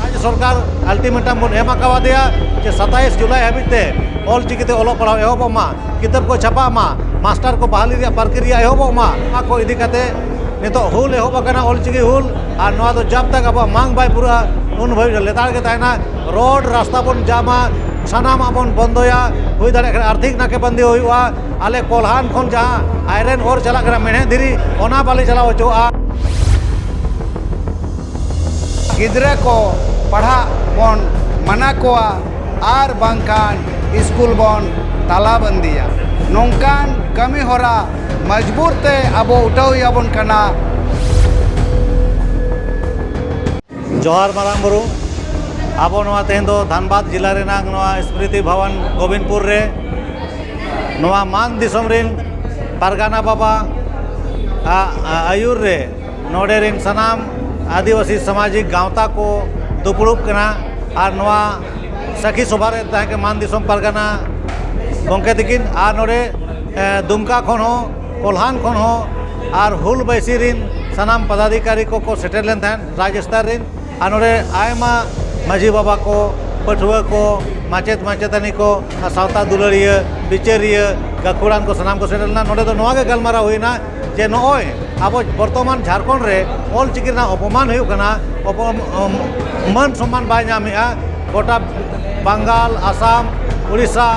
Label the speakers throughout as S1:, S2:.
S1: ᱨᱟᱡᱽᱡᱚ ᱥᱚᱨᱠᱟᱨ ᱟᱞᱴᱤᱢᱮᱴᱟᱢ ᱵᱚᱱ ᱮᱢ ᱟᱠᱟᱣᱟᱫᱮᱭᱟ ᱡᱮ ᱥᱟᱛᱟᱭᱤᱥ ᱡᱩᱞᱟᱭ ᱦᱟᱹᱵᱤᱡ ᱛᱮ ᱚᱞ ᱪᱤᱠᱤᱛᱮ ᱚᱞᱚᱜ ᱯᱟᱲᱦᱟᱣ ᱮᱦᱚᱵᱚᱜ ᱢᱟ ᱠᱤᱛᱟᱹᱵ ᱠᱚ ᱪᱷᱟᱯᱟᱜ ᱢᱟ ᱢᱟᱥᱴᱟᱨ ᱠᱚ ᱵᱟᱦᱟᱞᱤ ᱨᱮᱭᱟᱜ ᱯᱨᱚᱠᱨᱤᱭᱟ ᱮᱦᱚᱵᱚᱜ ᱢᱟ ᱱᱚᱣᱟ ᱠᱚ ᱤᱫᱤ ᱠᱟᱛᱮ ᱱᱤᱛᱚᱜ ᱦᱩᱞ ᱮᱦᱚᱵ ᱟᱠᱟᱱᱟ ᱚᱞ ᱪᱤᱠᱤ ᱦᱩᱞ ᱟᱨ ᱱᱚᱣᱟ ᱫᱚ ᱡᱟᱵ ᱛᱟᱠ ᱟᱵᱚᱣᱟᱜ ᱢᱟᱝ ᱵᱟᱭ ᱯᱩᱨᱟᱹᱜᱼᱟ ᱩᱱ ᱵᱷᱟᱹᱵᱤᱡ ᱞᱮᱛᱟᱲ ᱜᱮ ᱛᱟᱦᱮᱱᱟ ᱨᱳᱰ ᱨᱟᱥᱛᱟ ᱵᱚᱱ ᱡᱟᱢᱟ ᱥᱟᱱᱟᱢᱟᱜ ᱵᱚᱱ ᱵᱚᱱᱫᱚᱭᱟ ᱦᱩᱭ ᱫᱟᱲᱮᱭᱟᱜ ᱠᱷᱟᱱ ᱟᱨᱛᱷᱤᱠ ᱱᱟᱠᱮᱵᱚᱱᱫᱤ ᱦᱩᱭᱩᱜᱼᱟ ᱟᱞᱮ ᱠᱚᱞᱦᱟᱱ ᱠᱷᱚᱱ ᱡᱟᱦᱟᱸ ᱟᱭᱨᱮᱱ ᱦᱚᱨ ᱪᱟᱞᱟᱜ ᱠᱟᱱᱟ ᱢᱮᱬᱦᱮᱫ ᱫᱷᱤᱨᱤ ᱚᱱᱟ ᱵᱟᱞᱮ ᱪᱟᱞᱟᱣ ᱦᱚᱪᱚᱣᱟᱜᱼᱟ
S2: ᱜᱤᱫᱽᱨᱟᱹ ᱠᱚ ᱯᱟᱲᱦᱟᱜ ᱵᱚᱱ ᱢᱟᱱᱟ ᱠᱚᱣᱟ ᱟᱨ ᱵᱟᱝᱠᱷᱟᱱ ᱥᱠᱩᱞ ᱵᱚᱱ ᱛᱟᱞᱟ ᱵᱟᱱᱫᱤᱭᱟ ᱱᱚᱝᱠᱟᱱ ᱠᱟᱹᱢᱤ ᱦᱚᱨᱟ ᱢᱚᱡᱽᱵᱩᱨ ᱛᱮ ᱟᱵᱚ ᱩᱴᱷᱟᱹᱣ ᱦᱩᱭ ᱟᱵᱚᱱ ᱠᱟᱱᱟ
S1: ᱡᱚᱦᱟᱨ ᱢᱟᱨᱟᱝ ᱵᱩᱨᱩ ᱟᱵᱚ ᱱᱚᱣᱟ ᱛᱮᱦᱮᱧ ᱫᱚ ᱫᱷᱟᱱᱵᱟᱫᱽ ᱡᱮᱞᱟ ᱨᱮᱱᱟᱜ ᱱᱚᱣᱟ ᱥᱢᱨᱤᱛᱤ ᱵᱷᱚᱵᱚᱱ ᱜᱳᱵᱤᱱᱯᱩᱨ ᱨᱮ ᱱᱚᱣᱟ ᱢᱟᱱ ᱫᱤᱥᱚᱢ ᱨᱮᱱ ᱯᱟᱨᱜᱟᱱᱟ ᱵᱟᱵᱟ ᱟᱜ ᱟᱹᱭᱩᱨ ᱨᱮ ᱱᱚᱰᱮ ᱨᱮᱱ ᱥᱟᱱᱟᱢ ᱟᱹᱫᱤᱵᱟᱹᱥᱤ ᱥᱟᱢᱟᱡᱤᱠ ᱜᱟᱶᱛᱟ ᱠᱚ ᱫᱩᱯᱲᱩᱵ ᱠᱟᱱᱟ ᱟᱨ ᱱᱚᱣᱟ ᱥᱟᱹᱠᱷᱤ ᱥᱚᱵᱷᱟ ᱨᱮ ᱛᱟᱦᱮᱸ ᱠᱟᱱᱟ ᱢᱟᱱ ᱫᱤᱥᱚᱢ ᱯᱟᱨᱜᱟᱱᱟ ᱜᱚᱢᱠᱮ ᱛᱟᱹᱠᱤᱱ ᱟᱨ ᱱᱚᱰᱮ ᱫᱩᱢᱠᱟ ᱠᱷᱚᱱ ᱦᱚᱸ ᱠᱚᱞᱦᱟᱱ ᱠᱷᱚᱱ ᱦᱚᱸ ᱟᱨ ᱦᱩᱞ ᱵᱟᱭᱥᱤ ᱨᱤᱱ ᱥᱟᱱᱟᱢ ᱯᱟᱫᱟᱫᱷᱤᱠᱟᱨᱤ ᱠᱚ ᱠᱚ ᱥᱮᱴᱮᱨ ᱞᱮᱱ ᱛᱟᱦᱮᱸᱫ ᱨᱟᱡᱽ ᱥᱛᱚᱨ ᱨᱤᱱ ᱟᱨ ᱱᱚᱰᱮ ᱟᱭᱢᱟ ᱢᱟᱹᱡᱷᱤ ᱵᱟᱵᱟ ᱠᱚ ᱯᱟᱹᱴᱷᱩᱣᱟᱹ ᱠᱚ ᱢᱟᱪᱮᱫ ᱢᱟᱪᱮᱛᱟᱹᱱᱤ ᱠᱚ ᱟᱨ ᱥᱟᱶᱛᱟ ᱫᱩᱞᱟᱹᱲᱤᱭᱟᱹ ᱵᱤᱪᱟᱹᱨᱤᱭᱟᱹ ᱜᱟᱹᱠᱷᱩᱲᱟᱱ ᱠᱚ ᱥᱟᱱᱟᱢ ᱠᱚ ᱥᱮᱴᱮᱨ ᱞᱮᱱᱟ ᱱᱚᱰᱮ ᱫᱚ ᱱᱚᱣᱟ ᱜᱮ ᱜᱟᱞᱢᱟᱨᱟᱣ ᱦᱩᱭᱱᱟ ᱡᱮ ᱱᱚᱜᱼᱚᱭ ᱟᱵᱚ ᱵᱚᱨᱛᱚᱢᱟᱱ ᱡᱷᱟᱲᱠᱷᱚᱸᱰ ᱨᱮ ᱚᱞ ᱪᱤᱠᱤ ᱨᱮᱱᱟᱜ ᱚᱯᱚᱢᱟᱱ ᱦᱩᱭᱩᱜ ᱠᱟᱱᱟ ᱢᱟᱹᱱ ᱥᱚᱱᱢᱟᱱ ᱵᱟᱭ ᱧᱟᱢᱮᱜᱼᱟ ᱜᱚᱴᱟ ᱵᱟᱝᱜᱟᱞ ᱟᱥᱟᱢ ᱩᱲᱤᱥᱥᱟ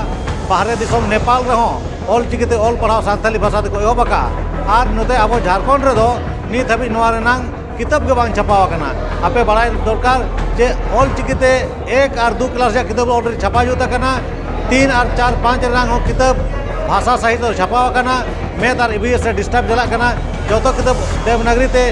S1: ᱵᱟᱦᱨᱮ ᱫᱤᱥᱚᱢ ᱱᱮᱯᱟᱞ ᱨᱮᱦᱚᱸ ᱚᱞ ᱪᱤᱠᱤ ᱛᱮ ᱚᱞ ᱯᱟᱲᱦᱟᱣ ᱥᱟᱱᱛᱟᱲᱤ ᱵᱷᱟᱥᱟ ᱛᱮᱠᱚ ᱮᱦᱚᱵ ᱟᱠᱟᱫᱼᱟ ᱟᱨ ᱱᱚᱛᱮ ᱟᱵᱚ ᱡᱷᱟᱲᱠᱷᱚᱸᱰ ᱨᱮᱫᱚ ᱱᱤᱛ ᱫᱷᱟᱹᱵᱤᱡ ᱱᱚᱣᱟ ᱨᱮᱱᱟᱜ ᱠᱤᱛᱟᱹᱵ ᱜᱮ ᱵᱟᱝ ᱪᱷᱟᱯᱟ ᱟᱠᱟᱱᱟ ᱟᱯᱮ ᱵᱟᱲᱟᱭ ᱫᱚᱨᱠᱟᱨ ᱡᱮ ᱚᱞ ᱪᱤᱠᱤ ᱛᱮ ᱮᱠ ᱟᱨ ᱫᱩ ᱠᱞᱟᱥ ᱨᱮᱭᱟᱜ ᱠᱤᱛᱟᱹᱵ ᱚᱞᱨᱮᱰᱤ ᱪᱷᱟᱯᱟ ᱡᱩᱛ ᱟᱠᱟᱱᱟ ᱛᱤᱱ ᱟᱨ ᱪᱟᱨ ᱯᱟᱸᱪ ᱨᱮᱱᱟᱜ ᱦᱚᱸ ᱠᱤᱛᱟᱹᱵ ᱵᱷᱟᱥᱟ ᱥᱟᱦᱤᱛ ᱨᱮ ᱪᱷᱟᱯᱟ ᱟᱠᱟᱱᱟ ᱢᱮᱛᱷ ᱟᱨ ᱤ ᱵᱷᱤ ᱮᱥ ᱨᱮ ᱰᱤᱥᱴᱟᱵᱽ ᱪᱟᱞᱟᱜ ᱠᱟᱱᱟ ᱡᱚᱛᱚ ᱠᱤᱛᱟᱹᱵ ᱫᱮᱵᱽᱱᱟᱜᱽᱨᱤ ᱛᱮ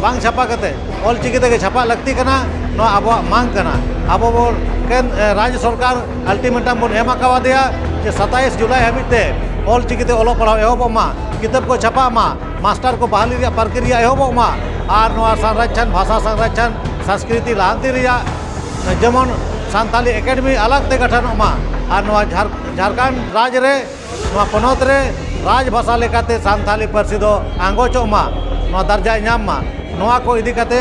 S1: ᱵᱟᱝ ᱪᱷᱟᱯᱟ ᱠᱟᱛᱮᱫ ᱚᱞ ᱪᱤᱠᱤ ᱛᱮᱜᱮ ᱪᱷᱟᱯᱟᱜ ᱞᱟᱹᱠᱛᱤ ᱠᱟᱱᱟ ᱱᱚᱣᱟ ᱟᱵᱚᱣᱟᱜ ᱢᱟᱜᱽ ᱠᱟᱱᱟ ᱟᱵᱚ ᱵᱚᱱ ᱮᱠᱮᱱ ᱨᱟᱡᱽ ᱥᱚᱨᱠᱟᱨ ᱟᱞᱴᱤᱢᱮᱴᱟᱢ ᱵᱚᱱ ᱮᱢ ᱟᱠᱟᱣᱟᱫᱮᱭᱟ ᱡᱮ ᱥᱟᱛᱟᱭᱤᱥ ᱡᱩᱞᱟᱭ ᱦᱟᱹᱵᱤᱡ ᱛᱮ ᱚᱞ ᱪᱤᱠᱤᱛᱮ ᱚᱞᱚᱜ ᱯᱟᱲᱦᱟᱣ ᱮᱦᱚᱵᱚᱜ ᱢᱟ ᱠᱤᱛᱟᱹᱵ ᱠᱚ ᱪᱷᱟᱯᱟᱜ ᱢᱟ ᱢᱟᱥᱴᱟᱨ ᱠᱚ ᱵᱟᱦᱟᱞᱤ ᱨᱮᱭᱟᱜ ᱯᱨᱚᱠᱨᱤᱭᱟ ᱮᱦᱚᱵᱚᱜ ᱢᱟ ᱟᱨ ᱱᱚᱣᱟ ᱥᱟᱱᱨᱟᱪᱷᱟᱱ ᱵᱷᱟᱥᱟ ᱥᱟᱱᱨᱟᱪᱷᱟᱱ ᱥᱟᱝᱥᱠᱨᱤᱛᱤ ᱞᱟᱦᱟᱱᱛᱤ ᱨᱮᱭᱟᱜ ᱡᱮᱢᱚᱱ ᱥᱟᱱᱛᱟᱞᱤ ᱮᱠᱟᱰᱮᱢᱤ ᱟᱞᱟᱜᱽ ᱛᱮ ᱜᱚᱴᱷᱚᱱᱚᱜ ᱢᱟ ᱟᱨ ᱱᱚᱣᱟ ᱡᱷᱟᱲᱠᱷᱚᱸᱰ ᱨᱟᱡᱽ ᱨᱮ ᱱᱚᱣᱟ ᱯᱚᱱᱚᱛ ᱨᱮ ᱨᱟᱡᱽ ᱵᱷᱟᱥᱟ ᱞᱮᱠᱟᱛᱮ ᱥᱟᱱᱛᱟᱲᱤ ᱯᱟᱹᱨᱥᱤ ᱫᱚ ᱟᱸᱜᱚᱪᱚᱜ ᱢᱟ ᱱᱚᱣᱟ ᱫᱟᱨᱡᱟᱭ ᱧᱟᱢ ᱢᱟ ᱱᱚᱣᱟ ᱠᱚ ᱤᱫᱤ ᱠᱟᱛᱮ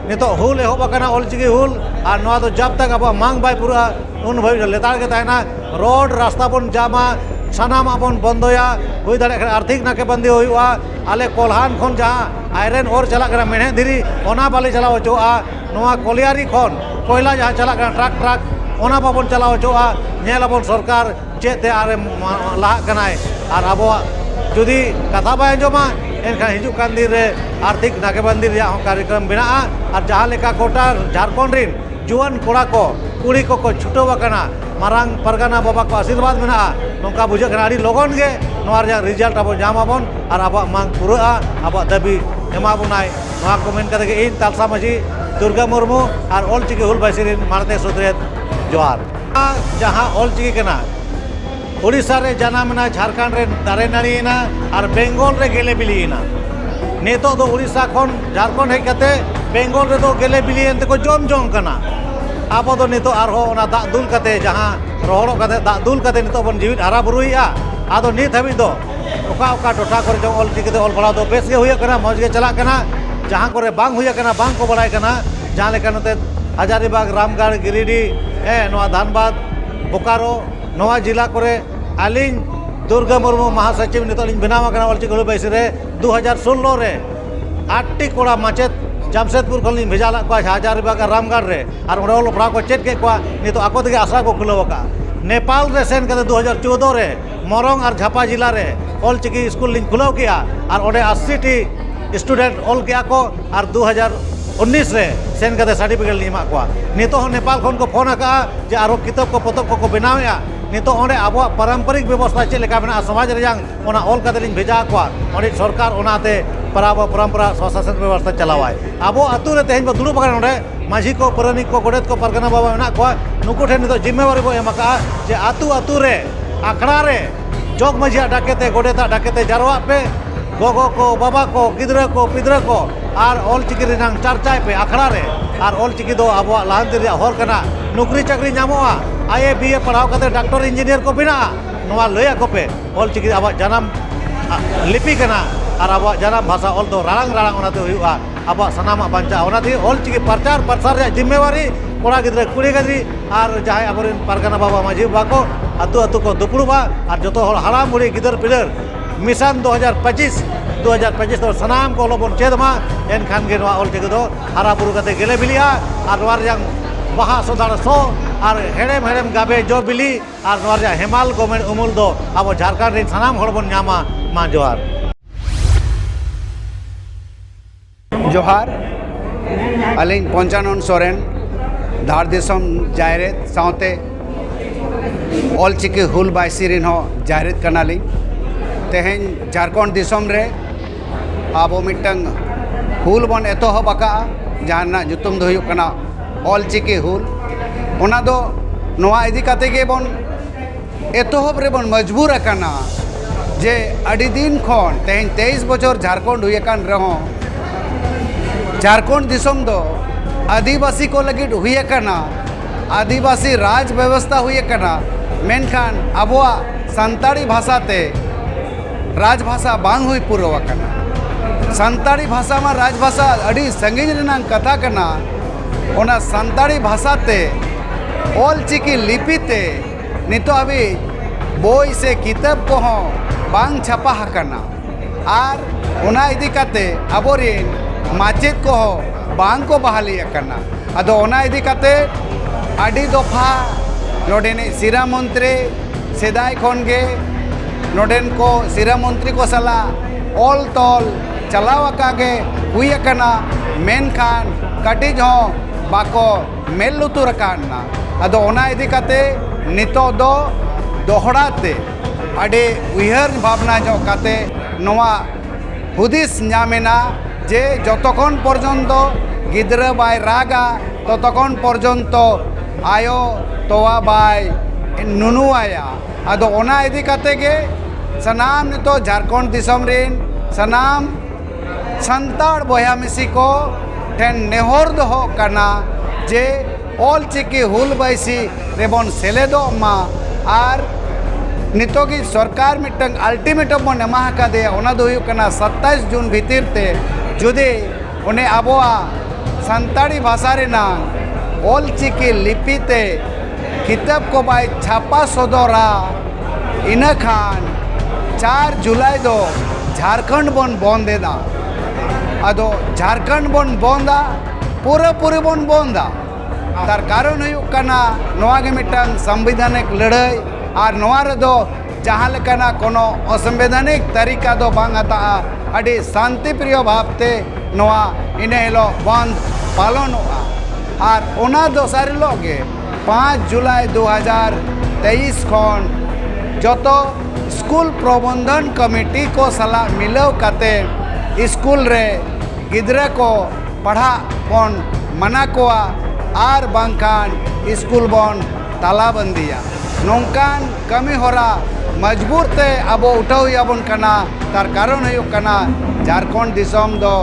S1: ᱱᱤᱛᱚᱜ ᱦᱩᱞ ᱮᱦᱚᱵ ᱟᱠᱟᱱᱟ ᱚᱞ ᱪᱤᱠᱤ ᱦᱩᱞ ᱟᱨ ᱱᱚᱣᱟ ᱫᱚ ᱡᱟᱵᱽ ᱛᱟᱠ ᱟᱵᱚᱣᱟᱜ ᱢᱟᱝ ᱵᱟᱭ ᱯᱩᱨᱟᱹᱜᱼᱟ ᱩᱱ ᱵᱷᱟᱹᱵᱤᱡ ᱫᱚ ᱞᱮᱛᱟᱲ ᱜᱮ ᱛᱟᱦᱮᱱᱟ ᱨᱚᱲ ᱨᱟᱥᱛᱟ ᱵᱚᱱ ᱡᱟᱢᱟ ᱥᱟᱱᱟᱢᱟᱜ ᱵᱚᱱ ᱵᱚᱱᱫᱚᱭᱟ ᱦᱩᱭ ᱫᱟᱲᱮᱭᱟᱜ ᱠᱷᱟᱱ ᱟᱨᱛᱷᱤᱠ ᱱᱟᱠᱮ ᱵᱟᱱᱫᱤ ᱦᱩᱭᱩᱜᱼᱟ ᱟᱞᱮ ᱠᱚᱞᱦᱟᱱ ᱠᱷᱚᱱ ᱡᱟᱦᱟᱸ ᱟᱭᱨᱮᱱ ᱚᱨ ᱪᱟᱞᱟᱜ ᱠᱟᱱᱟ ᱢᱮᱬᱦᱮᱫ ᱫᱷᱤᱨᱤ ᱚᱱᱟ ᱵᱟᱞᱮ ᱪᱟᱞᱟᱣ ᱦᱚᱪᱚᱣᱟᱜᱼᱟ ᱱᱚᱣᱟ ᱠᱚᱞᱤᱭᱟᱨᱤ ᱠᱷᱚᱱ ᱠᱚᱭᱞᱟ ᱡᱟᱦᱟᱸ ᱪᱟᱞᱟᱜ ᱠᱟᱱᱟ ᱴᱨᱟᱠ ᱴᱨᱟᱠ ᱚᱱᱟ ᱵᱟᱵᱚᱱ ᱪᱟᱞᱟᱣ ᱦᱚᱪᱚᱣᱟᱜᱼᱟ ᱧᱮᱞ ᱟᱵᱚᱱ ᱥᱚᱨᱠᱟᱨ ᱪᱮᱫ ᱛᱮ ᱟᱨᱮ ᱞᱟᱦᱟᱜ ᱠᱟᱱᱟᱭ ᱟᱨ ᱟᱵᱚᱣᱟᱜ ᱡᱩᱫᱤ ᱠᱟᱛᱷᱟ ᱵᱟᱭ ᱟᱸᱡᱚᱢᱟ ᱮᱱᱠᱷᱟᱱ ᱦᱤᱡᱩᱜ ᱠᱟᱱ ᱫᱤᱱ ᱨᱮ ᱟᱨᱛᱷᱤᱠ ᱱᱟᱠᱮᱵᱟᱱᱫᱤ ᱨᱮᱭᱟᱜ ᱦᱚᱸ ᱠᱟᱨᱭᱚᱠᱨᱚᱢ ᱢᱮᱱᱟᱜᱼᱟ ᱟᱨ ᱡᱟᱦᱟᱸ ᱞᱮᱠᱟ ᱜᱚᱴᱟ ᱡᱷᱟᱲᱠᱷᱚᱸᱰ ᱨᱤᱱ ᱡᱩᱣᱟᱹᱱ ᱠᱚᱲᱟ ᱠᱚ ᱠᱩᱲᱤ ᱠᱚᱠᱚ ᱪᱷᱩᱴᱟᱹᱣ ᱟᱠᱟᱱᱟ ᱢᱟᱨᱟᱝ ᱯᱟᱨᱜᱟᱱᱟ ᱵᱟᱵᱟ ᱠᱚ ᱟᱥᱤᱨᱵᱟᱫᱽ ᱢᱮᱱᱟᱜᱼᱟ ᱱᱚᱝᱠᱟ ᱵᱩᱡᱷᱟᱹᱜ ᱠᱟᱱᱟ ᱟᱹᱰᱤ ᱞᱚᱜᱚᱱ ᱜᱮ ᱱᱚᱣᱟ ᱨᱮᱭᱟᱜ ᱨᱮᱡᱟᱞᱴ ᱟᱵᱚ ᱧᱟᱢ ᱟᱵᱚᱱ ᱟᱨ ᱟᱵᱚᱣᱟᱜ ᱢᱟᱜᱽ ᱯᱩᱨᱟᱹᱜᱼᱟ ᱟᱵᱚᱣᱟᱜ ᱫᱟᱹᱵᱤ ᱮᱢᱟ ᱵᱚᱱᱟᱭ ᱱᱚᱣᱟ ᱠᱚ ᱢᱮᱱ ᱠᱟᱛᱮ ᱜᱮ ᱤᱧ ᱛᱟᱞᱥᱟ ᱢᱟᱹᱡᱷᱤ ᱫᱩᱨᱜᱟᱹ ᱢᱩᱨᱢᱩ ᱟᱨ ᱚᱞᱪᱤᱠᱤ ᱦᱩᱞ ᱵᱟᱭᱥᱤ ᱨᱤᱱ ᱢᱟᱬᱛᱮ ᱥᱩᱛᱨᱮᱛ ᱡᱚᱦᱟᱨ ᱡᱟᱦᱟᱸ ᱚᱞ ᱪᱤᱠᱤ ᱠᱟᱱᱟ ᱳᱰᱤᱥᱟ ᱨᱮ ᱡᱟᱱᱟᱢ ᱮᱱᱟ ᱡᱷᱟᱲᱠᱷᱚᱸᱰ ᱨᱮ ᱫᱟᱨᱮ ᱱᱟᱹᱲᱤᱭᱮᱱᱟ ᱟᱨ ᱵᱮᱝᱜᱚᱞ ᱨᱮ ᱜᱮᱞᱮ ᱵᱤᱞᱤᱭᱮᱱᱟ ᱱᱤᱛᱚᱜ ᱫᱚ ᱳᱰᱤᱥᱟ ᱠᱷᱚᱱ ᱡᱷᱟᱲᱠᱷᱚᱸᱰ ᱦᱮᱡ ᱠᱟᱛᱮ ᱵᱮᱝᱜᱚᱞ ᱨᱮᱫᱚ ᱜᱮᱞᱮ ᱵᱤᱞᱤᱭᱮᱱ ᱛᱮᱠᱚ ᱡᱚᱢ ᱡᱚᱝ ᱠᱟᱱᱟ ᱟᱵᱚ ᱫᱚ ᱱᱤᱛᱚᱜ ᱟᱨᱦᱚᱸ ᱚᱱᱟ ᱫᱟᱜ ᱫᱩᱞ ᱠᱟᱛᱮ ᱡᱟᱦᱟᱸ ᱨᱚᱦᱚᱲᱚᱜ ᱠᱟᱛᱮ ᱫᱟᱜ ᱫᱩᱞ ᱠᱟᱛᱮ ᱱᱤᱛᱚᱜ ᱵᱚᱱ ᱡᱮᱣᱮᱫ ᱦᱟᱨᱟ ᱵᱩᱨᱩᱭᱮᱜᱼᱟ ᱟᱫᱚ ᱱᱤᱛ ᱦᱟᱹᱵᱤᱡ ᱫᱚ ᱚᱠᱟ ᱚᱠᱟ ᱴᱚᱴᱷᱟ ᱠᱚᱨᱮ ᱪᱚᱝ ᱚᱞ ᱪᱤᱠᱤ ᱛᱮ ᱚᱞ ᱯᱟᱲᱦᱟᱣ ᱫᱚ ᱵᱮᱥ ᱜᱮ ᱦᱩᱭᱩᱜ ᱠᱟᱱᱟ ᱢᱚᱡᱽ ᱜᱮ ᱪᱟᱞᱟᱜ ᱠᱟᱱᱟ ᱡᱟᱦᱟᱸ ᱠᱚᱨᱮ ᱵᱟᱝ ᱦᱩᱭ ᱠᱟᱱᱟ ᱵᱟᱝ ᱠᱚ ᱵᱟᱲᱟᱭ ᱠᱟᱱᱟ ᱡᱟᱦᱟᱸ ᱞᱮᱠᱟ ᱱᱚᱛᱮ ᱦᱟᱡᱟᱨᱤᱵᱟᱜᱽ ᱨᱟᱢᱜᱚᱲ ᱜᱤᱨᱤᱰᱤ ᱦᱮᱸ ᱱᱚᱣᱟ ᱫᱷᱟᱱᱵᱟᱫᱽ ᱵᱳᱠᱟᱨᱳ ᱱᱚᱣᱟ ᱡᱮᱞᱟ ᱠᱚᱨᱮ ᱟᱹᱞᱤᱧ ᱫᱩᱨᱜᱟᱹ ᱢᱩᱨᱢᱩ ᱢᱟᱦᱟ ᱥᱚᱪᱤᱵᱽ ᱱᱤᱛᱚᱜ ᱞᱤᱧ ᱵᱮᱱᱟᱣ ᱠᱟᱱᱟ ᱚᱞ ᱪᱤᱠᱤ ᱦᱩᱞ ᱵᱟᱭᱥᱤ ᱨᱮ ᱫᱩ ᱦᱟᱡᱟᱨ ᱥᱳᱞᱞᱳ ᱨᱮ ᱟᱴᱴᱤ ᱠᱚᱲᱟ ᱢᱟᱪᱮᱫ ᱡᱟᱢᱥᱮᱫᱽᱯᱩᱨ ᱠᱷᱚᱱ ᱞᱤᱧ ᱵᱷᱮᱡᱟ ᱞᱮᱫ ᱠᱚᱣᱟ ᱦᱟᱡᱟᱨᱤᱵᱟᱜᱽ ᱟᱨ ᱨᱟᱢᱜᱚᱲ ᱨᱮ ᱟᱨ ᱚᱸᱰᱮ ᱚᱞᱚᱜ ᱯᱟᱲᱦᱟᱣ ᱠᱚ ᱪᱮᱫ ᱠᱮᱫ ᱠᱚᱣᱟ ᱱᱤᱛᱚᱜ ᱟᱠᱚ ᱛᱮᱜᱮ ᱟᱥᱲᱟ ᱠᱚ ᱠᱷᱩᱞᱟᱹᱣ ᱠᱟᱜᱼᱟ ᱱᱮᱯᱟᱞ ᱨᱮ ᱥᱮᱱ ᱠᱟᱛᱮᱫ ᱫᱩ ᱦᱟᱡᱟᱨ ᱪᱳᱫᱽᱫᱳ ᱨᱮ ᱢᱚᱨᱚᱝ ᱟᱨ ᱡᱷᱟᱯᱟ ᱡᱮᱞᱟ ᱨᱮ ᱚᱞ ᱪᱤᱠᱤ ᱥᱠᱩᱞ ᱞᱤᱧ ᱠᱷᱩᱞᱟᱹᱣ ᱠᱮᱜᱼᱟ ᱟᱨ ᱚᱸᱰᱮ ᱟᱹᱥᱤ ᱴᱤ ᱥᱴᱩᱰᱮᱱᱴ ᱚᱞ ᱠᱮᱜᱼᱟ ᱠᱚ ᱟᱨ ᱫᱩ ᱦᱟᱡᱟᱨ ᱩᱱᱤᱥ ᱨᱮ ᱥᱮᱱ ᱠᱟᱛᱮᱫ ᱥᱟᱨᱴᱤᱯᱷᱤᱠᱮᱴ ᱞᱤᱧ ᱮᱢᱟᱜ ᱠᱚᱣᱟ ᱱᱤᱛᱚᱜ ᱦᱚᱸ ᱱᱮᱯᱟᱞ ᱠᱷᱚᱱ ᱠᱚ ᱯᱷᱳᱱ ᱟᱠᱟᱜᱼᱟ ᱡᱮ ᱟᱨᱚ ᱠᱤᱛᱟᱹᱵ ᱠᱚ ᱯᱚᱛᱚᱵ ᱠᱚᱠᱚ ᱵᱮᱱᱟᱣᱮᱜᱼᱟ ᱱᱤᱛᱚᱜ ᱚᱸᱰᱮ ᱟᱵᱚᱣᱟᱜ ᱯᱟᱨᱚᱢᱯᱚᱨᱤᱠ ᱵᱮᱵᱚᱥᱛᱟ ᱪᱮᱫ ᱞᱮᱠᱟ ᱢᱮᱱᱟᱜᱼᱟ ᱥᱚᱢᱟᱡᱽ ᱨᱮᱭᱟᱜ ᱚᱱᱟ ᱚᱞ ᱠᱟᱛᱮᱫ ᱞᱤᱧ ᱵᱷᱮᱡᱟ ᱟᱠᱚᱣᱟ ᱚᱸᱰᱮ ᱥᱚᱨᱠᱟᱨ ᱚᱱᱟᱛᱮ ᱯᱟᱨᱟᱵᱽ ᱟᱨ ᱯᱚᱨᱚᱢᱯᱚᱨᱟ ᱥᱚᱼᱥᱟᱥᱚᱱ ᱵᱮᱵᱚᱥᱛᱟ ᱪᱟᱞᱟᱣᱟᱭ ᱟᱵᱚ ᱟᱛᱳ ᱨᱮ ᱛᱮᱦᱮᱧ ᱵᱚᱱ ᱫᱩᱲᱩᱵ ᱟᱠᱟᱱᱟ ᱱᱚᱸᱰᱮ ᱢᱟᱺᱡᱷᱤ ᱠᱚ ᱯᱟᱨᱟᱱᱤᱠ ᱠᱚ ᱜᱚᱰᱮᱛ ᱠᱚ ᱯᱟᱨᱜᱟᱱᱟ ᱵᱟᱵᱟ ᱢᱮᱱᱟᱜ ᱠᱚᱣᱟ ᱱᱩᱠᱩ ᱴᱷᱮᱱ ᱱᱤᱛᱚᱜ ᱡᱤᱢᱢᱟᱹᱣᱟᱨᱤ ᱵᱚᱱ ᱮᱢ ᱟᱠᱟᱜᱼᱟ ᱡᱮ ᱟᱛᱳ ᱟᱛᱳ ᱨᱮ ᱟᱠᱷᱲᱟ ᱨᱮ ᱡᱚᱜᱽ ᱢᱟᱺᱡᱷᱤᱭᱟᱜ ᱰᱟᱠᱮ ᱛᱮ ᱜᱚᱰᱮᱛᱟᱜ ᱰᱟᱠᱮ ᱛᱮ ᱡᱟᱨᱣᱟᱜ ᱯᱮ ᱜᱚᱜᱚ ᱠᱚ ᱵᱟᱵᱟ ᱠᱚ ᱜᱤᱫᱽᱨᱟᱹ ᱠᱚ ᱯᱤᱫᱽᱨᱟᱹ ᱠᱚ ᱟᱨ ᱚᱞᱪᱤᱠᱤ ᱨᱮᱱᱟᱝ ᱪᱟᱨᱪᱟᱭ ᱯᱮ ᱟᱠᱷᱲᱟ ᱨᱮ ᱟᱨ ᱚᱞᱪᱤᱠᱤ ᱫᱚ ᱟᱵᱚᱣᱟᱜ ᱞᱟᱦᱟᱱᱛᱤ ᱨᱮᱭᱟᱜ ᱦᱚᱨ ᱠᱟᱱᱟ ᱱᱩᱠᱨᱤ ᱪᱟᱹᱠᱨᱤ ᱧᱟᱢᱚᱜᱼᱟ ᱟᱭ ᱮ ᱵᱤ ᱮ ᱯᱟᱲᱦᱟᱣ ᱠᱟᱛᱮ ᱰᱟᱠᱴᱚᱨ ᱤᱧᱡᱤᱱᱤᱭᱟᱨ ᱠᱚ ᱵᱮᱱᱟᱜᱼᱟ ᱱᱚᱣᱟ ᱞᱟᱹᱭ ᱟᱠᱚ ᱯᱮ ᱚᱞᱪᱤᱠᱤ ᱟᱵᱚᱣᱟᱜ ᱡᱟᱱᱟᱢ ᱞᱤᱯᱤ ᱠᱟᱱᱟ ᱟᱨ ᱟᱵᱚᱣᱟᱜ ᱡᱟᱱᱟᱢ ᱵᱷᱟᱥᱟ ᱚᱞ ᱫᱚ ᱨᱟᱲᱟᱝ ᱨᱟᱲᱟᱝ ᱚᱱᱟᱛᱮ ᱦᱩᱭᱩᱜᱼᱟ ᱟᱵᱚᱣᱟᱜ ᱥᱟᱱᱟᱢᱟᱜ ᱵᱟᱧᱪᱟᱜᱼᱟ ᱚᱱᱟᱛᱮ ᱚᱞᱪᱤᱠᱤ ᱯᱨᱚᱪᱟᱨ ᱯᱨᱚᱥᱟᱨ ᱨᱮᱭᱟᱜ ᱡᱤᱢᱢᱮᱣᱟᱨᱤ ᱠᱚᱲᱟ ᱜᱤᱫᱽᱨᱟᱹ ᱠᱩᱲᱤ ᱜᱤᱫᱽᱨᱟᱹ ᱟᱨ ᱡᱟᱦᱟᱸᱭ ᱟᱵᱚᱨᱮᱱ ᱯᱟᱨᱜᱟᱱᱟ ᱵᱟᱵᱟ ᱢᱟᱹᱡᱷᱤ ᱵᱟᱵᱟ ᱠᱚ ᱟᱹᱛᱩ ᱟᱹᱛᱩ ᱠᱚ ᱫᱩᱯᱲᱩᱵᱼᱟ ᱟᱨ ᱡᱚᱛᱚ ᱦᱚᱲ ᱦᱟᱲᱟᱢ ᱵᱩᱲᱦᱤ ᱜᱤᱫᱟᱹᱨ ᱯᱤᱫᱟᱹᱨ ᱢᱤᱥᱚᱱ ᱫᱩ ᱦᱟᱡᱟᱨ ᱯᱚᱸᱪᱤᱥ ᱫᱩ ᱦᱟᱡᱟᱨ ᱯᱚᱸᱪᱤᱥ ᱫᱚ ᱥᱟᱱᱟᱢ ᱠᱚ ᱚᱞᱚᱜ ᱵᱚᱱ ᱪᱮᱫ ᱢᱟ ᱮᱱᱠᱷᱟᱱ ᱜᱮ ᱱᱚᱣᱟ ᱚᱞᱪᱤᱠᱤ ᱫᱚ ᱦᱟᱨᱟ ᱵᱩᱨᱩ ᱠᱟᱛᱮ ᱜᱮᱞᱮ ᱵᱤᱞᱤᱜᱼᱟ ᱟᱨ ᱱᱚᱣᱟ ᱨᱮᱭᱟᱝ ᱵᱟᱦᱟ ᱥᱚᱫᱷᱟᱲ ᱥᱚ ᱟᱨ ᱦᱮᱲᱮᱢ ᱦᱮᱲᱮᱢ ᱜᱟᱵᱮ ᱡᱚ ᱵᱤᱞᱤ ᱟᱨ ᱱᱚᱣᱟ ᱨᱮᱭᱟᱜ ᱦᱮᱢᱟᱞ ᱜᱚᱢᱮᱲ ᱩᱢᱩᱞ ᱫᱚ ᱟᱵᱚ ᱡᱷᱟᱲᱠᱷᱚᱸᱰ ᱨᱮᱱ ᱥᱟᱱᱟᱢ ᱦᱚᱲ ᱵᱚᱱ ᱧᱟᱢᱟ ᱢᱟ ᱡᱚᱦᱟᱨ
S2: ᱡᱚᱦᱟᱨ ᱟᱹᱞᱤᱧ ᱯᱚᱧᱪᱟᱱᱚᱱ ᱥᱚᱨᱮᱱ ᱫᱷᱟᱲ ᱫᱤᱥᱚᱢ ᱡᱟᱭᱨᱮᱛ ᱥᱟᱶᱛᱮ ᱚᱞᱪᱤᱠᱤ ᱦᱩᱞ ᱵᱟᱭᱥᱤ ᱨᱮᱱ ᱦᱚᱸ ᱡᱟᱭᱨᱮᱛ ᱠᱟᱱᱟᱞᱤᱧ ᱛᱮᱦᱮᱧ ᱡᱷᱟᱲᱠᱷᱚᱸᱰ ᱫᱤᱥᱚᱢ ᱨᱮ ᱟᱵᱚ ᱢᱤᱫᱴᱟᱝ ᱦᱩᱞ ᱵᱚᱱ ᱮᱛᱚᱦᱚᱵ ᱟᱠᱟᱫᱼᱟ ᱡᱟᱦᱟᱸ ᱨᱮᱱᱟᱜ ᱧᱩᱛᱩᱢ ᱫᱚ ᱦᱩᱭᱩᱜ ᱠᱟᱱᱟ ᱚᱞᱪᱤᱠᱤ ᱦᱩᱞ ᱚᱱᱟ ᱫᱚ ᱱᱚᱣᱟ ᱤᱫᱤ ᱠᱟᱛᱮ ᱜᱮᱵᱚᱱ ᱮᱛᱚᱦᱚᱵ ᱨᱮᱵᱚᱱ ᱢᱚᱡᱽᱵᱩᱨ ᱟᱠᱟᱱᱟ ᱡᱮ ᱟᱹᱰᱤ ᱫᱤᱱ ᱠᱷᱚᱱ ᱛᱮᱦᱮᱧ ᱛᱮᱭᱤᱥ ᱵᱚᱪᱷᱚᱨ ᱡᱷᱟᱨᱠᱷᱚᱸᱰ ᱦᱩᱭ ᱟᱠᱟᱱ ᱨᱮᱦᱚᱸ ᱡᱷᱟᱨᱠᱷᱚᱸᱰ ᱫᱤᱥᱚᱢ ᱫᱚ ᱟᱹᱫᱤᱵᱟᱹᱥᱤ ᱠᱚ ᱞᱟᱹᱜᱤᱫ ᱦᱩᱭ ᱟᱠᱟᱱᱟ ᱟᱹᱫᱤᱵᱟᱹᱥᱤ ᱨᱟᱡᱽ ᱵᱮᱵᱚᱥᱛᱷᱟ ᱦᱩᱭ ᱟᱠᱟᱱᱟ ᱢᱮᱱᱠᱷᱟᱱ ᱟᱵᱚᱣᱟᱜ ᱥᱟᱱᱛᱟᱲᱤ ᱵᱷᱟᱥᱟ ᱛᱮ ᱨᱟᱡᱽ ᱵᱷᱟᱥᱟ ᱵᱟᱝ ᱦᱩᱭ ᱯᱩᱨᱟᱹᱣ ᱟᱠᱟᱱᱟ ᱥᱟᱱᱛᱟᱲᱤ ᱵᱷᱟᱥᱟ ᱢᱟ ᱨᱟᱡᱽ ᱵᱷᱟᱥᱟ ᱟᱹᱰᱤ ᱥᱟᱺᱜᱤᱧ ᱨᱮᱱᱟᱜ ᱠᱟᱛᱷᱟ ᱠᱟᱱᱟ ᱚᱱᱟ ᱥᱟᱱᱛᱟᱲᱤ ᱵᱷᱟᱥᱟ ᱛᱮ ᱚᱞ ᱪᱤᱠᱤ ᱞᱤᱯᱤ ᱛᱮ ᱱᱤᱛᱚᱜ ᱦᱟᱹᱵᱤᱡ ᱵᱳᱭ ᱥᱮ ᱠᱤᱛᱟᱹᱵ ᱠᱚᱦᱚᱸ ᱵᱟᱝ ᱪᱷᱟᱯᱟ ᱟᱠᱟᱱᱟ ᱟᱨ ᱚᱱᱟ ᱤᱫᱤ ᱠᱟᱛᱮ ᱟᱵᱚᱨᱮᱱ ᱢᱟᱪᱮᱫ ᱠᱚᱦᱚᱸ ᱵᱟᱝ ᱠᱚ ᱵᱟᱦᱟᱞᱤ ᱟᱠᱟᱱᱟ ᱟᱫᱚ ᱚᱱᱟ ᱤᱫᱤ ᱠᱟᱛᱮ ᱟᱹᱰᱤ ᱫᱚᱯᱷᱟ ᱱᱚᱰᱮᱱᱤᱡ ᱥᱤᱨᱟ ᱢᱚᱱᱛᱨᱤ ᱥᱮᱫᱟᱭ ᱠᱷᱚᱱ ᱜᱮ ᱱᱚᱰᱮᱱ ᱠᱚ ᱥᱤᱨᱟ ᱢᱚᱱᱛᱨᱤ ᱠᱚ ᱥᱟᱞᱟᱜ ᱚᱞ ᱛᱚᱞ ᱪᱟᱞᱟᱣ ᱟᱠᱟᱜᱮ ᱦᱩᱭ ᱟᱠᱟᱱᱟ ᱢᱮᱱᱠᱷᱟᱱ ᱠᱟᱹᱴᱤᱡ ᱦᱚᱸ ᱵᱟᱠᱚ ᱢᱮᱫ ᱞᱩᱛᱩᱨ ᱟᱠᱟᱱᱟ ᱟᱫᱚ ᱚᱱᱟ ᱤᱫᱤ ᱠᱟᱛᱮ ᱱᱤᱛᱚᱜ ᱫᱚ ᱫᱚᱦᱲᱟ ᱛᱮ ᱟᱹᱰᱤ ᱩᱭᱦᱟᱹᱨ ᱵᱷᱟᱵᱽᱱᱟ ᱧᱚᱜ ᱠᱟᱛᱮ ᱱᱚᱣᱟ ᱦᱩᱫᱤᱥ ᱧᱟᱢ ᱮᱱᱟ ᱡᱮ ᱡᱚᱛᱚ ᱠᱷᱚᱱ ᱯᱚᱨᱡᱚᱱᱛᱚ ᱜᱤᱫᱽᱨᱟᱹ ᱵᱟᱭ ᱨᱟᱜᱟ ᱛᱚᱛᱚ ᱠᱷᱚᱱ ᱯᱚᱨᱡᱚᱱᱛᱚ ᱟᱭᱳ ᱛᱚᱣᱟ ᱵᱟᱭ ᱱᱩᱱᱩ ᱟᱭᱟ ᱟᱫᱚ ᱚᱱᱟ ᱤᱫᱤ ᱠᱟᱛᱮ ᱜᱮ ᱥᱟᱱᱟᱢ ᱱᱤᱛᱚᱜ ᱡᱷᱟᱲᱠᱷᱚᱸᱰ ᱫᱤᱥᱚᱢ ᱨᱮᱱ ᱥᱟᱱᱟᱢ ᱥᱟᱱᱛᱟᱲ ᱵᱚᱭᱦᱟ ᱢᱤᱥᱤ ᱠᱚ ᱴᱷᱮᱱ ᱱᱮᱦᱚᱨ ᱫᱚᱦᱚᱜ ᱠᱟᱱᱟ ᱡᱮ ᱚᱞ ᱪᱤᱠᱤ ᱦᱩᱞ ᱵᱟᱭᱥᱤ ᱨᱮᱵᱚᱱ ᱥᱮᱞᱮᱫᱚᱜ ᱢᱟ ᱟᱨ ᱱᱤᱛᱚᱜ ᱜᱮ ᱥᱚᱨᱠᱟᱨ ᱢᱤᱫᱴᱟᱝ ᱟᱞᱴᱤᱢᱮᱴᱟᱢ ᱵᱚᱱ ᱮᱢᱟ ᱟᱠᱟᱫᱮᱭᱟ ᱚᱱᱟ ᱫᱚ ᱦᱩᱭᱩᱜ ᱠᱟᱱᱟ ᱥᱟᱛᱟᱥ ᱡᱩᱱ ᱵᱷᱤᱛᱤᱨ ᱛᱮ ᱡᱩᱫᱤ ᱩᱱᱤ ᱟᱵᱚᱣᱟᱜ ᱥᱟᱱᱛᱟᱲᱤ ᱵᱷᱟᱥᱟ ᱨᱮᱱᱟᱜ ᱚᱞ ᱪᱤᱠᱤ ᱞᱤᱯᱤ ᱛᱮ ᱠᱤᱛᱟᱹᱵ ᱠᱚ ᱵᱟᱭ ᱪᱷᱟᱯᱟ ᱥᱚᱫᱚᱨᱟ ᱤᱱᱟᱹ ᱠᱷᱟᱱ ᱪᱟᱨ ᱡᱩᱞᱟᱭ ᱫᱚ ᱡᱷᱟᱲᱠᱷᱚᱸᱰ ᱵᱚᱱ ᱵᱚᱱᱫᱽ ᱮᱫᱟ ᱟᱫᱚ ᱡᱷᱟᱲᱠᱷᱚᱸᱰ ᱵᱚᱱ ᱵᱚᱱᱫᱟ ᱯᱩᱨᱟᱹ ᱯᱩᱨᱤ ᱵᱚᱱ ᱵᱚᱱᱫᱟ ᱛᱟᱨ ᱠᱟᱨᱚᱱ ᱦᱩᱭᱩᱜ ᱠᱟᱱᱟ ᱱᱚᱣᱟ ᱜᱮ ᱢᱤᱫᱴᱟᱝ ᱥᱟᱝᱵᱤᱫᱷᱟᱱᱤᱠ ᱞᱟᱹᱲᱦᱟᱹᱭ ᱟᱨ ᱱᱚᱣᱟ ᱨᱮᱫᱚ ᱡᱟᱦᱟᱸ ᱞᱮᱠᱟᱱᱟᱜ ᱠᱳᱱᱳ ᱚᱥᱟᱢᱵᱤᱫᱷᱟᱱᱤᱠ ᱛᱟᱹᱨᱤᱠᱟ ᱫᱚ ᱵᱟᱝ ᱦᱟᱛᱟᱜᱼᱟ ᱟᱹᱰᱤ ᱥᱟᱱᱛᱤ ᱯᱨᱤᱭᱚ ᱵᱷᱟᱵᱽᱛᱮ ᱱᱚᱣᱟ ᱤᱱᱟᱹ ᱦᱤᱞᱳᱜ ᱵᱚᱱᱫ ᱯᱟᱞᱚᱱᱚᱜᱼᱟ ᱟᱨ ᱚᱱᱟ ᱫᱚᱥᱟᱨ ᱦᱤᱞᱳᱜ ᱜᱮ ᱯᱟᱸᱪ ᱡᱩᱞᱟᱭ ᱫᱩ ᱦᱟᱡᱟᱨ ᱛᱮᱭᱤᱥ ᱠᱷᱚᱱ ᱡᱚᱛᱚ ᱥᱠᱩᱞ ᱯᱨᱚᱵᱚᱱᱫᱷᱚᱱ ᱠᱚᱢᱤᱴᱤ ᱠᱚ ᱥᱟᱞᱟᱜ ᱢᱤᱞᱟᱹᱣ ᱠᱟᱛᱮ ᱥᱠᱩᱞ ᱨᱮ ᱜᱤᱫᱽᱨᱟᱹ ᱠᱚ ᱯᱟᱲᱦᱟᱜ ᱵᱚᱱ ᱢᱟᱱᱟ ᱠᱚᱣᱟ ᱟᱨ ᱵᱟᱝᱠᱷᱟᱱ ᱥᱠᱩᱞ ᱵᱚᱱ ᱛᱟᱞᱟ ᱵᱚᱱᱫᱤᱭᱟ ᱱᱚᱝᱠᱟᱱ ᱠᱟᱹᱢᱤ ᱦᱚᱨᱟ ᱢᱚᱡᱽᱵᱩᱛ ᱛᱮ ᱟᱵᱚ ᱩᱴᱷᱟᱹᱣ ᱦᱩᱭ ᱟᱵᱚᱱ ᱠᱟᱱᱟ ᱛᱟᱨ ᱠᱟᱨᱚᱱ ᱦᱩᱭᱩᱜ ᱠᱟᱱᱟ ᱡᱷᱟᱲᱠᱷᱚᱸᱰ ᱫᱤᱥᱚᱢ ᱫᱚ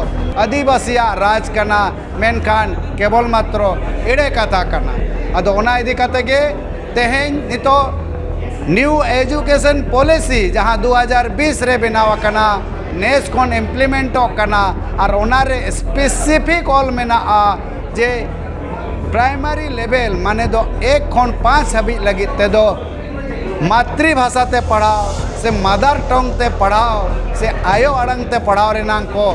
S2: ᱟᱹᱫᱤᱵᱟᱹᱥᱤᱭᱟᱜ ᱨᱟᱡᱽ ᱠᱟᱱᱟ ᱢᱮᱱᱠᱷᱟᱱ ᱠᱮᱵᱚᱞ ᱢᱟᱛᱨᱚ ᱮᱲᱮ ᱠᱟᱛᱷᱟ ᱠᱟᱱᱟ ᱟᱫᱚ ᱚᱱᱟ ᱤᱫᱤ ᱠᱟᱛᱮ ᱜᱮ ᱛᱮᱦᱮᱧ ᱱᱤᱛᱚᱜ ᱱᱤᱭᱩ ᱮᱰᱩᱠᱮᱥᱚᱱ ᱯᱚᱞᱤᱥᱤ ᱡᱟᱦᱟᱸ ᱫᱩ ᱦᱟᱡᱟᱨ ᱵᱤᱥ ᱨᱮ ᱵᱮᱱᱟᱣ ᱟᱠᱟᱱᱟ ᱱᱮᱥ ᱠᱷᱚᱱ ᱤᱢᱯᱞᱤᱢᱮᱱᱴᱚᱜ ᱠᱟᱱᱟ ᱟᱨ ᱚᱱᱟ ᱨᱮ ᱥᱯᱮᱥᱤᱯᱷᱤᱠ ᱚᱞ ᱢᱮᱱᱟᱜᱼᱟ ᱡᱮ ᱯᱨᱟᱭᱢᱟᱨᱤ ᱞᱮᱵᱮᱞ ᱢᱟᱱᱮ ᱫᱚ ᱮᱠ ᱠᱷᱚᱱ ᱯᱟᱸᱪ ᱦᱟᱹᱵᱤᱡ ᱞᱟᱹᱜᱤᱫ ᱛᱮᱫᱚ ᱢᱟᱛᱨᱤ ᱵᱷᱟᱥᱟ ᱛᱮ ᱯᱟᱲᱦᱟᱣ ᱥᱮ ᱢᱟᱫᱟᱨ ᱴᱚᱝ ᱛᱮ ᱯᱟᱲᱦᱟᱣ ᱥᱮ ᱟᱭᱳ ᱟᱲᱟᱝ ᱛᱮ ᱯᱟᱲᱦᱟᱣ ᱨᱮᱱᱟᱝ ᱠᱚ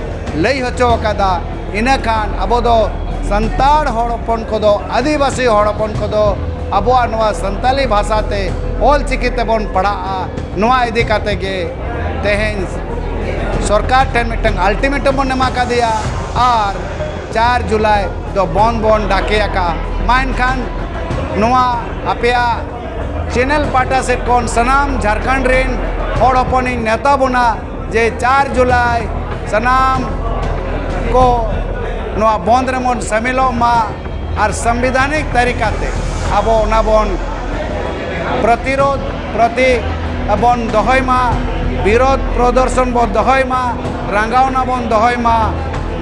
S2: ᱞᱟᱹᱭ ᱦᱚᱪᱚ ᱟᱠᱟᱫᱟ ᱤᱱᱟᱹ ᱠᱷᱟᱱ ᱟᱵᱚ ᱫᱚ ᱥᱟᱱᱛᱟᱲ ᱦᱚᱲ ᱦᱚᱯᱚᱱ ᱠᱚᱫᱚ ᱟᱹᱫᱤᱵᱟᱹᱥᱤ ᱦᱚᱲ ᱦᱚᱯᱚᱱ ᱠᱚᱫᱚ ᱟᱵᱚᱣᱟᱜ ᱱᱚᱣᱟ ᱥᱟᱱᱛᱟᱞᱤ ᱵᱷᱟᱥᱟ ᱛᱮ ᱚᱞ ᱪᱤᱠᱤ ᱛᱮᱵᱚᱱ ᱯᱟᱲᱦᱟᱜᱼᱟ ᱱᱚᱣᱟ ᱤᱫᱤ ᱠᱟᱛᱮ ᱜᱮ ᱛᱮᱦᱮᱧ ᱥᱚᱨᱠᱟᱨ ᱴᱷᱮᱱ ᱢᱤᱫᱴᱟᱝ ᱟᱞᱴᱤᱢᱮᱴᱟᱢ ᱵᱚᱱ ᱮᱢᱟ ᱠᱟᱫᱮᱭᱟ ᱟᱨ ᱪᱟᱨ ᱡᱩᱞᱟᱭ ᱫᱚ ᱵᱚᱱ ᱵᱚᱱ ᱰᱟᱠᱮ ᱟᱠᱟᱫᱼᱟ ᱢᱟ ᱮᱱᱠᱷᱟᱱ ᱱᱚᱣᱟ ᱟᱯᱮᱭᱟᱜ ᱪᱮᱱᱮᱞ ᱯᱟᱦᱴᱟ ᱥᱮᱫ ᱠᱷᱚᱱ ᱥᱟᱱᱟᱢ ᱡᱷᱟᱨᱠᱷᱚᱸᱰ ᱨᱮᱱ ᱦᱚᱲ ᱦᱚᱯᱚᱱᱤᱧ ᱱᱮᱣᱛᱟ ᱵᱚᱱᱟ ᱡᱮ ᱪᱟᱨ ᱡᱩᱞᱟᱭ ᱥᱟᱱᱟᱢ ᱠᱚ ᱱᱚᱣᱟ ᱵᱚᱱᱫ ᱨᱮᱵᱚᱱ ᱥᱟᱹᱢᱤᱞᱚᱜ ᱢᱟ ᱟᱨ ᱥᱟᱝᱵᱤᱫᱷᱟᱱᱤᱠ ᱛᱟᱹᱨᱤᱠᱟᱛᱮ ᱟᱵᱚ ᱚᱱᱟ ᱵᱚᱱ ᱯᱨᱚᱛᱤᱨᱳᱫᱷ ᱯᱨᱚᱛᱤ ᱵᱚᱱ ᱫᱚᱦᱚᱭ ᱢᱟ ᱵᱤᱨᱳᱫᱷ ᱯᱨᱚᱫᱚᱨᱥᱚᱱ ᱵᱚᱱ ᱫᱚᱦᱚᱭ ᱢᱟ ᱨᱟᱸᱜᱟᱣᱱᱟ ᱵᱚᱱ ᱫᱚᱦᱚᱭ ᱢᱟ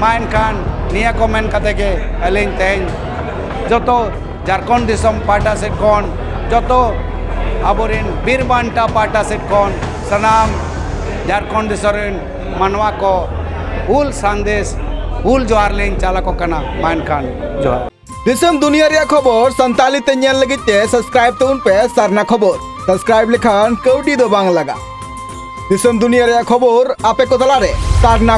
S2: ᱢᱟ ᱮᱱᱠᱷᱟᱱ ᱱᱤᱭᱟᱹ ᱠᱚ ᱢᱮᱱ ᱠᱟᱛᱮ ᱜᱮ ᱟᱹᱞᱤᱧ ᱛᱮᱦᱮᱧ ᱡᱚᱛᱚ ᱡᱷᱟᱲᱠᱷᱚᱸᱰ ᱫᱤᱥᱚᱢ ᱯᱟᱦᱴᱟ ᱥᱮᱫ ᱠᱷᱚᱱ ᱡᱚᱛᱚ ᱟᱵᱚᱨᱮᱱ ᱵᱤᱨ ᱵᱟᱱᱴᱟ ᱯᱟᱦᱴᱟ ᱥᱮᱫ ᱠᱷᱚᱱ ᱥᱟᱱᱟᱢ ᱡᱷᱟᱲᱠᱷᱚᱸᱰ ᱫᱤᱥᱚᱢ ᱨᱮᱱ ᱢᱟᱱᱣᱟ ᱠᱚ ᱦᱩᱞ ᱥᱟᱸᱫᱮᱥ ᱦᱩᱞ ᱡᱚᱦᱟᱨ ᱞᱤᱧ ᱪᱟᱞ ᱟᱠᱚ ᱠᱟᱱᱟ ᱢᱟ ᱮᱱᱠᱷᱟᱱ ᱡᱚᱦᱟᱨ ᱫᱤᱥᱚᱢ ᱫᱩᱱᱤᱭᱟᱹ
S3: ᱨᱮᱭᱟᱜ ᱠᱷᱚᱵᱚᱨ ᱥᱟᱱᱛᱟᱲᱤ ᱛᱮ ᱧᱮᱞ ᱞᱟᱹᱜᱤᱫ ᱛᱮ ᱥᱟᱵᱥᱠᱨᱟᱭᱤᱵ ᱛᱟᱵᱚᱱ ᱯᱮ ᱥᱟᱨᱱᱟ ᱠᱷᱚᱵᱚᱨ ᱥᱟᱵᱥᱠᱨᱟᱭᱤᱵ ᱞᱮᱠᱷᱟᱱ ᱠᱟᱹᱣᱰᱤ ᱫᱚ ᱵᱟᱝ ᱞᱟᱜᱟᱜ ᱫᱤᱥᱚᱢ ᱫᱩᱱᱤᱭᱟᱹ ᱨᱮᱭᱟᱜ ᱠᱷᱚᱵᱚᱨ ᱟᱯᱮ ᱠᱚ ᱛᱟᱞᱟᱨᱮ ᱥᱟᱨᱱᱟ